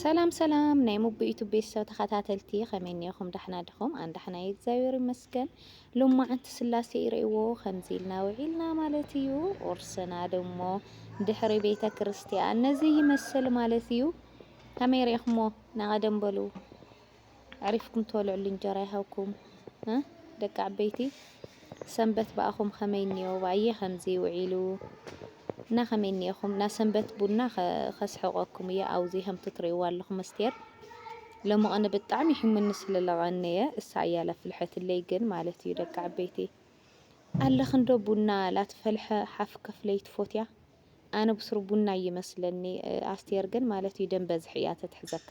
ሰላም ሰላም ናይ ሙቡ ዩቱብ ቤተሰብ ተኸታተልቲ ከመይ እኒኹም ዳሕና ድኹም ኣን ዳሕና የእግዚኣብሔር ይመስገን ሎማዓንቲ ስላሴ ይርእዎ ከምዚ ኢልና ውዒልና ማለት እዩ ቁርስና ድሞ ድሕሪ ቤተ ክርስቲያን ነዚ ይመስል ማለት እዩ ከመይ ርኢኹሞ ናቐደም በሉ ኣዕሪፍኩም ትበልዕሉ እንጀራ ይሃብኩም ን ደቂ ዓበይቲ ሰንበት ብኣኹም ከመይ እንዮ ባየ ከምዚ ውዒሉ እና ከመይ እንየኹም እና ሰንበት ቡና ከስሕቀኩም እየ ኣውዚ ከምቲ ትርእይዋ ኣለኹም መስቴር ለመቐነ ብጣዕሚ ሒሙኒ ስለለቐነየ እሳ እያ ለፍልሐትለይ ግን ማለት እዩ ደቂ ዓበይቲ ኣለኽንዶ ቡና ላትፈልሐ ሓፍ ከፍለይ ትፎትያ ኣነ ብስሩ ቡና ይመስለኒ ኣስቴር ግን ማለት እዩ ደም በዝሒ እያ ተትሕዘካ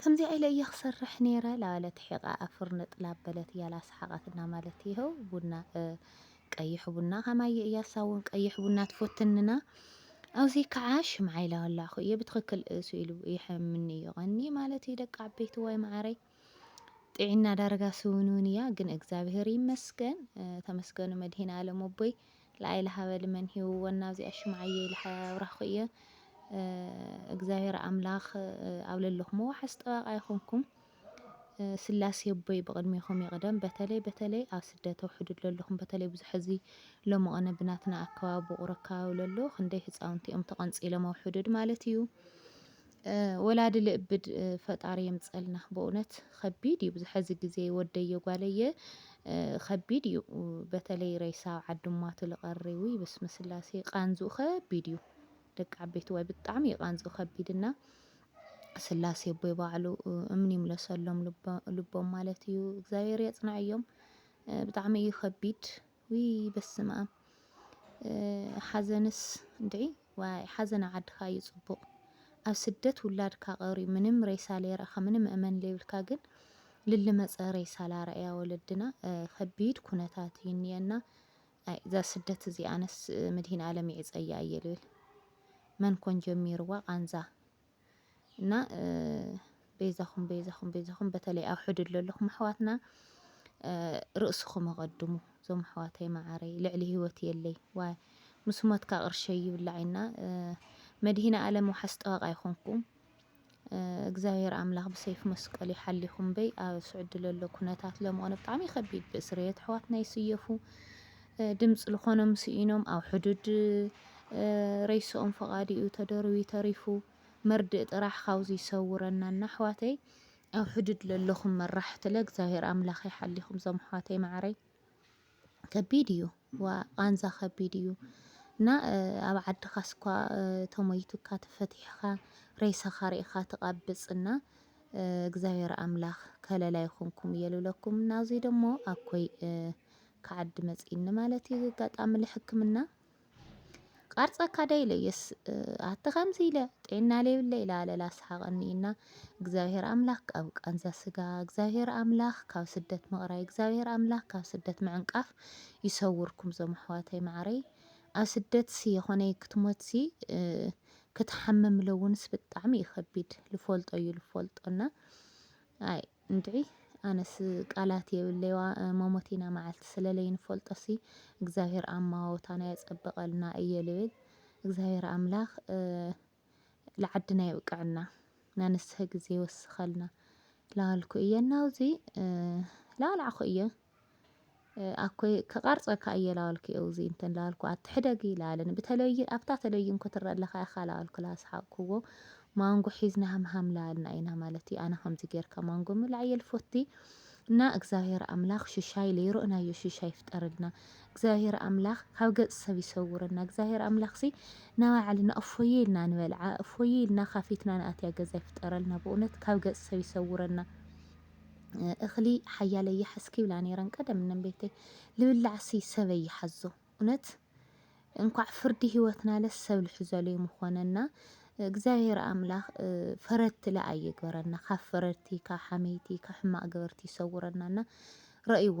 ከምዚኣ ኢለ እየ ክሰርሕ ነይረ ላበለት ሒቃ ኣብ ፍርንጥ ላብ በለት እያለ ኣስሓቃት እና ማለት ይሀው ቡና ቀይሕ ቡና ከማየ እያ እሳ እውን ቀይሕ ቡና ትፎትንና ኣውዚ ከዓ ሽምዓ ኢላ ወላዕኩ እየ ብትክክል እሱ ኢሉ ይሐምኒ እዩ ቀኒ ማለት እዩ ደቂ ዓበይቲ ዋይ መዓረይ ጢዒና ዳርጋ ስውንውን እያ ግን እግዚኣብሔር ይመስገን ተመስገኑ መድሂን ኣለም ኣቦይ ላይለ ሃበ ልመን ሂውወን ናብዚኣ ሹም ዓየይ ልሓያይ ኣብራኩ እየ እግዚኣብሔር ኣምላክ ኣብ ለለኩሞ ዋሓስ ጠባቃ ይኩንኩም ስላሴ ኣቦይ ብቅድሜኩም ይቅደም በተለይ በተለይ ኣብ ስደት ኣብ ሑዱድ ለለኩም በተለይ ብዙሕ እዚ ሎምቅነ ብናትና ኣከባቢ ቡቁር ኣከባቢ ለሎ ክንደይ ህፃውንቲ እዮም ተቀንፂሎም ኣብ ሑዱድ ማለት እዩ ወላዲ ልእብድ ፈጣሪ የምፀልና በእውነት ከቢድ እዩ ብዝሐዚ ግዜ ወደየ ጓለየ ከቢድ እዩ በተለይ ሬሳ ዓድማቱ ልቀሪ ውይ ብስመ ስላሴ ቃንዝኡ ከቢድ እዩ ደቂ ዓበይቲ ዋይ ብጣዕሚ እዩ ቃንዝኡ ከቢድ እና ስላሴ ቦይ ባዕሉ እምኒ ይምለሰሎም ልቦም ማለት እዩ እግዚኣብሔር የፅንዐዮም ብጣዕሚ እዩ ከቢድ ውይ በስመኣም ሓዘንስ እንድዒ ዋይ ሓዘን ኣብ ዓድካ እዩ ፅቡቅ ኣብ ስደት ውላድካ ቀርዩ ምንም ሬሳ ለይረእካ ምንም እመን ለይብልካ ግን ልልመፀ ሬሳ ላረእያ ወለድና ከቢድ ኩነታት እዩ እኒኤና ኣይ እዛ ስደት እዚ ኣነስ ምድሂን ኣለም ይዕፀያ እየ ልብል መን ኮን ጀሚርዋ ቃንዛ እና በይዛኹም በይዛኹም በይዛኹም በተለይ ኣብ ሕዱድ ዘለኹም ኣሕዋትና ርእስኹም ኣቐድሙ እዞም ኣሕዋተይ መዓረይ ልዕሊ ህይወት የለይ ዋይ ምስ ሞትካ ቅርሸይ ይብላዕ ኢና መድሂነ ኣለም ዋሓስ ጠዋቕ ኣይኮንኩም እግዚኣብሔር ኣምላኽ ብሰይፍ መስቀሉ ይሓሊኹም በይ ኣብ ስዑዲ ለሎ ኩነታት ለምኾነ ብጣዕሚ ከቢድ ብእስርየት ኣሕዋትና ይስየፉ ድምፂ ልኾኖም ስኢኖም ኣብ ሕዱድ ሬሶኦም ፈቓዲኡ ተደርብዩ ተሪፉ መርድእ ጥራሕ ካብዚ ይሰውረና እና ኣሕዋተይ ኣብ ሕዱድ ለለኹም መራሕትለ እግዚኣብሔር ኣምላኽ ይሓሊኹም ዞም ኣሕዋተይ ማዕረይ ከቢድ እዩ ዋ ቃንዛ ከቢድ እዩ እና ኣብ ዓድኻ ስኳ ተሞይቱካ ተፈቲሕኻ ሬሳኻ ርኢኻ ትቓብፅ እና እግዚኣብሔር ኣምላኽ ከለላ ይኹንኩም እየ ልብለኩም እና እዙይ ደሞ ኣኮይ ከዓዲ መጺኒ ማለት እዩ ገጋጣሚ ልሕክምና ቃርጸካ ደ ኢለ የስ ኣቲ ከምዚ ኢለ ጤና ለይብለ ኢላ ኣለላ ኣስሓቐኒ እና እግዚኣብሔር ኣምላኽ ካብ ቃንዛ ስጋ እግዚኣብሔር ኣምላኽ ካብ ስደት ምቕራይ እግዚኣብሔር ኣምላኽ ካብ ስደት ምዕንቃፍ ይሰውርኩም ዞም ኣሕዋተይ ማዕረይ ኣብ ስደትሲ የኾነይ ክትሞትሲ ክትሓምም ለውንስ ብጣዕሚ እዩ ከቢድ ልፈልጦ እዩ ልፈልጦና ኣይ እንድዒ ኣነስ ቃላት የብለይ ዋእ መሞቲና ማዓልቲ ስለለይ ንፈልጦ ሲ እግዚኣብሔር ኣማዋውታና የፀብቀልና እየ ልብል እግዚኣብሔር ኣምላክ ልዓድና የብቀዐና ናንስሀ ግዜ ይወስከልና ላበልኩ እየ ናብዙይ ላበላዕኩ እየ። ኣኮይ ክቐርጸካ እየ ላበልኩ እውዚ እንትን ላበልኩ ኣቲ ሕደጊ ላበለኒ ብተለቪዥን ኣብታ ተለቪዥን ክትረአ ኣለካ ኢኻ ላበልኩ ላስሓቕኩዎ ማንጎ ሒዝና ሃምሃም ላበልና ኢና ማለት እዩ ኣነ ከምዚ ጌርካ ማንጎ ምብላዕ እየ ልፎቲ እና እግዚኣብሔር ኣምላኽ ሽሻይ ለይሮእናዮ ሽሻይ ይፍጠረልና እግዚኣብሔር ኣምላኽ ካብ ገጽ ሰብ ይሰውረና እግዚኣብሔር ኣምላኽ ሲ ናባዕልና እፎየ ኢልና ንበልዓ እፎየ ኢልና ካፊትና ንኣትያ ገዛ ይፍጠረልና ብእውነት ካብ ገጽ ሰብ ይሰውረና እኽሊ ሓያለይ ይሓዝ ክብላ ነይረን ቀደም ነንቤተይ ልብላዕሲ ሰበይ ይሓዞ እውነት እንኳዕ ፍርዲ ህይወትናለ ሰብ ልሕዘሉ ምኾነና እግዚኣብሔር ኣምላኽ ፈረድቲ ለኣ ይግበረና ካብ ፈረድቲ ካብ ሓመይቲ ካብ ሕማቅ ገበርቲ ይሰውረናና ረእይዋ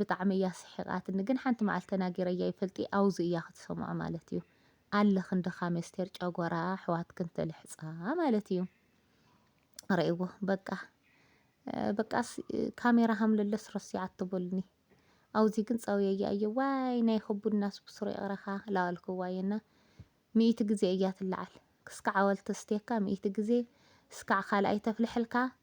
ብጣዕሚ እያ ኣስሒቃትኒ ግን ሓንቲ መዓልቲ ተናጊረያ ኣይፈልጥይ ኣውዚ እያ ክትሰምዖ ማለት እዩ ኣለክን ድካም ኣስቴር ጨጎራ ኣሕዋትክን ትልሕጻ ማለት እዩ ረእዎ በቃ በቃስ ካሜራ ሃምለለስ ረሲዓቶ በሉኒ ኣውዚ ግን ጸውየያ እየ ዋይ ናይ ክቡድናስ ብስሩ ይቅረካ ላዋልክዋ እየና ሚእቲ ግዜ እያ ትለዓል ክስካዕ ኣወልቲ ስቴካ ሚእቲ ግዜ ስካዕ ካልኣይ ተፍልሐልካ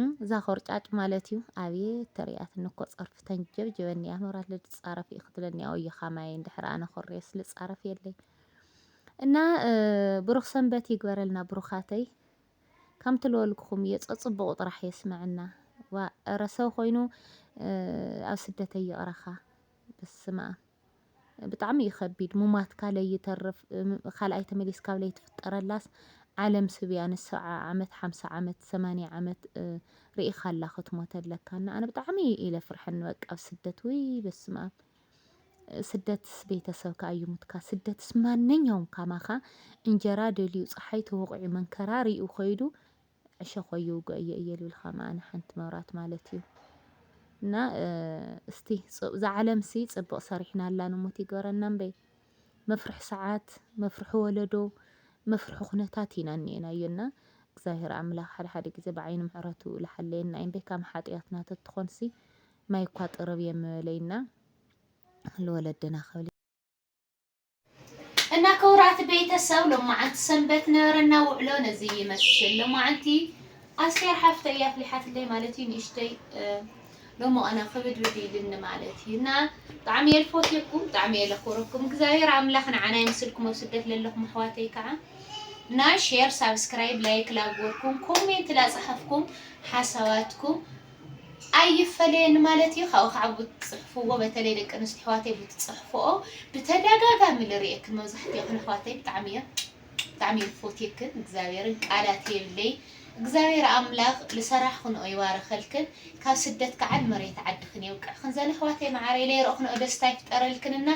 እም እዛ ኮርጫጭ ማለት እዩ ኣብየት ተርእያትኒ እኮ ጸርፊ ተንጀብጀበኒ እያ ኖራ ልጻረፍ እዩ ክትብለኒ እያ ወዮ ካማየን ድሕሪ ኣነ ኮርየስ ልጻረፍ የለይ እና ብሩኽ ሰንበት ይግበረልና ብሩኻተይ ከምቲ ልበልኩኹም እየ ጸጽቡቑ ጥራሕ የስመዐና ዋ እረ ሰብ ኮይኑ ኣብ ስደተይ ይቕረኻ በስመ ብጣዕሚ እዩ ከቢድ ሙማትካ ለይተርፍ ካልኣይ ተመሊስካ ለይትፍጠረላስ ዓለም ስብ እያ ንስዓ ዓመት ሓምሳ ዓመት ሰማንያ ዓመት ሪኢካ ኣላ ክትሞተለካ እና ኣነ ብጣዕሚ ኢለ ፍርሐኒ በቃ ኣብ ስደት ውይ በስማም ስደትስ ቤተሰብ ከኣ ይሙትካ ስደትስ ማንኛውም ካማካ እንጀራ ደልዩ ፀሓይ ተወቂዑ መንከራ ሪኡ ከይዱ ዕሸኾይ ይውግኦ እየ እየ ልብልካ መኣነ ሓንቲ መብራት ማለት እዩ እና እስቲ ዛዓለም ሲ ፅብቕ ሰሪሕና ኣላ ንሞት ይግበረና እምበይ መፍርሒ ሰዓት መፍርሒ ወለዶ መፍርሒ ኩነታት ኢና እኒኤናዮ እና እግዚኣብሔር ኣምላኽ ሓደ ሓደ ግዜ ብዓይኒ ምሕረቱ ልሓለየና እዩ እምበይ ካብ ሓጢኣትና ተትኾንሲ ማይ እኳ ጥርብ የምበለይና ልወለድና ክብል እና ክቡራት ቤተሰብ ሎማዓንቲ ሰንበት ነበረና ውዕሎ ነዚ ይመስል። ሎማዓንቲ ኣስቴር ሓፍተይ ኣፍሊሓትለይ ማለት እዩ ንእሽተይ ሎሞ ኣና ክብድብድ ኢልኒ ማለት እዩ እና ብጣዕሚ እየ ልፎትየኩም ብጣዕሚ እየ ለክብረኩም እግዚኣብሔር ኣምላኽ ንዓና ይምስልኩም ኣብ ስደት ለለኹም ኣሕዋተይ ከዓ እና ሼር ሳብስክራይብ ላይክ ላጎርኩም ኮሜንት ላፀሓፍኩም ሓሳባትኩም ኣይፈለየኒ ማለት እዩ ካብኡ ከዓ ብትፅሕፍዎ በተለይ ደቂ ኣንስትዮ ኣሕዋተይ ብትፅሕፍኦ ብተደጋጋሚ ልርእየክን መብዛሕትኦክን ኣሕዋተይ ብጣዕሚ እየ ብጣዕሚ እየ ዝፎትየክን እግዚኣብሔርን ቃላት የብለይ እግዚኣብሔር ኣምላክ ልሰራሕክንኦ ይባርከልክን ካብ ስደት ከዓ ንመሬት ዓድክን የብቅዕክን ዘን ኣሕዋተይ መዓረይ ለይረእክንኦ ደስታ ይፍጠረልክን እና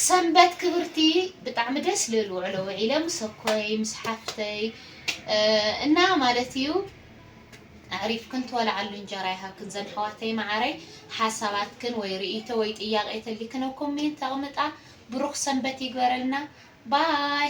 ሰንበት ክብርቲ ብጣዕሚ ደስ ልብል ውዕሎ ውዒለ ምሰኮይ ምስ ሓፍተይ እና ማለት እዩ ኣዕሪፍክን ትበልዓሉ እንጀራ ይሃብክን ዘን ኣሕዋተይ መዓረይ ሓሳባትክን ወይ ርእይቶ ወይ ጥያቄ ተልይክን ኣብ ኮሜንት ኣቅምጣ ብሩክ ሰንበት ይግበረልና ባይ